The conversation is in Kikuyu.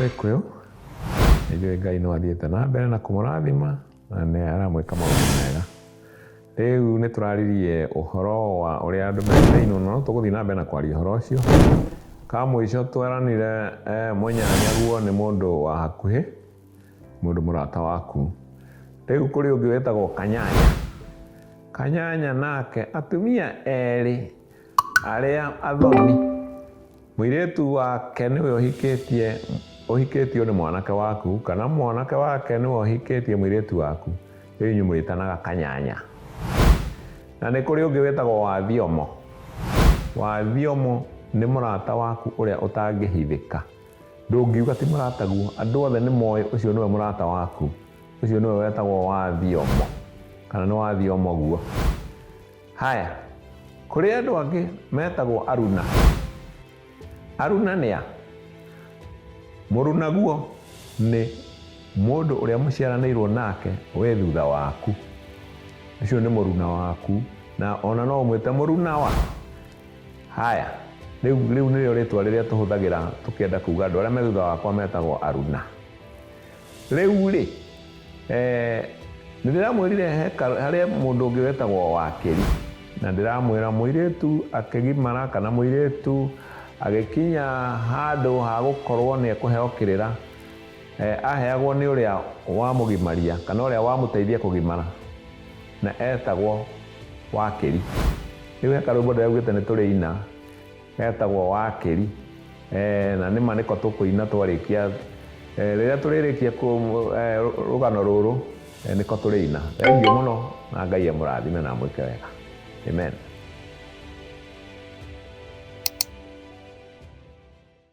Gĩkũyũ nĩ njũĩ Ngai no athiĩte na mbere na kũmũrathima na nĩ aramwĩka maũndũ mega. Rĩu nĩ tũraririe ũhoro wa ũrĩa andũ metainwo no tũgũthiĩ na mbere na kwaria ũhoro ũcio. Kamũico tweranire eh, mũnyanyaguo nĩ mũndũ wa hakuhĩ. Mũndũ mũrata waku. Rĩu kũrĩ ũngĩ wĩtagwo Kanyanya. Kanyanya nake atumia erĩ arĩa athoni. Mũirĩtu wake nĩwe ũhikĩtie ũhikĩtio nĩ mwanake waku kana mwanake wake nĩwe ũhikĩtie mũirĩtu waku. Rĩu inyuĩ mũrĩtanaga Kanyanya. Na nĩ kũrĩ ũngĩ wĩtagwo Wathiomo. Wathiomo nĩ mũrata waku ũrĩa ũtangĩhithĩka. Ndũngiuga ti mũrataguo. Andũ othe nĩ moĩ ũcio nĩwe mũrata waku. Ũcio nĩwe wetagwo wa Thiomo. Kana nĩ wa Thiomo guo. Haya, kũrĩ andũ angĩ metagwo aruna. Aruna nĩ a? Mũrunaguo nĩ mũndũ ũrĩa mũciaranĩirwo nake wĩ thutha waku. Ũcio nĩ mũruna waku. Na ona no ũmwĩte mũrunawa. Haya, rĩu rĩu nĩrĩo rĩtwa rĩrĩa tũhũthagĩra tũkĩenda kuga andũ arĩa me thutha wakwa metagwo aruna rĩu rĩ eh, nĩ ndĩramwĩrire he ka- harĩa mũndũ ũngĩ wetagwo wakĩri na ndĩramwĩra mũirĩtu akĩgimara kana mũirĩtu agĩkinya handũ ha gũkorwo nĩ ekũheo kĩrĩra eh, aheagwo nĩ ũrĩa wamũgimaria kana ũrĩa wamũteithia kũgimara Na etagwo Wakĩri. Rĩu he karwĩmbo ndĩraigua augĩte nĩtũrĩina getagwo Wakĩri. Eeh na nĩma nĩko tũkũina twarĩkia eeh rĩrĩa tũrĩrĩkia eeh rũgano rũrũ nĩko tũrĩina. Thengiũ mũno na Ngai amũrathime na amwĩke wega. Amen.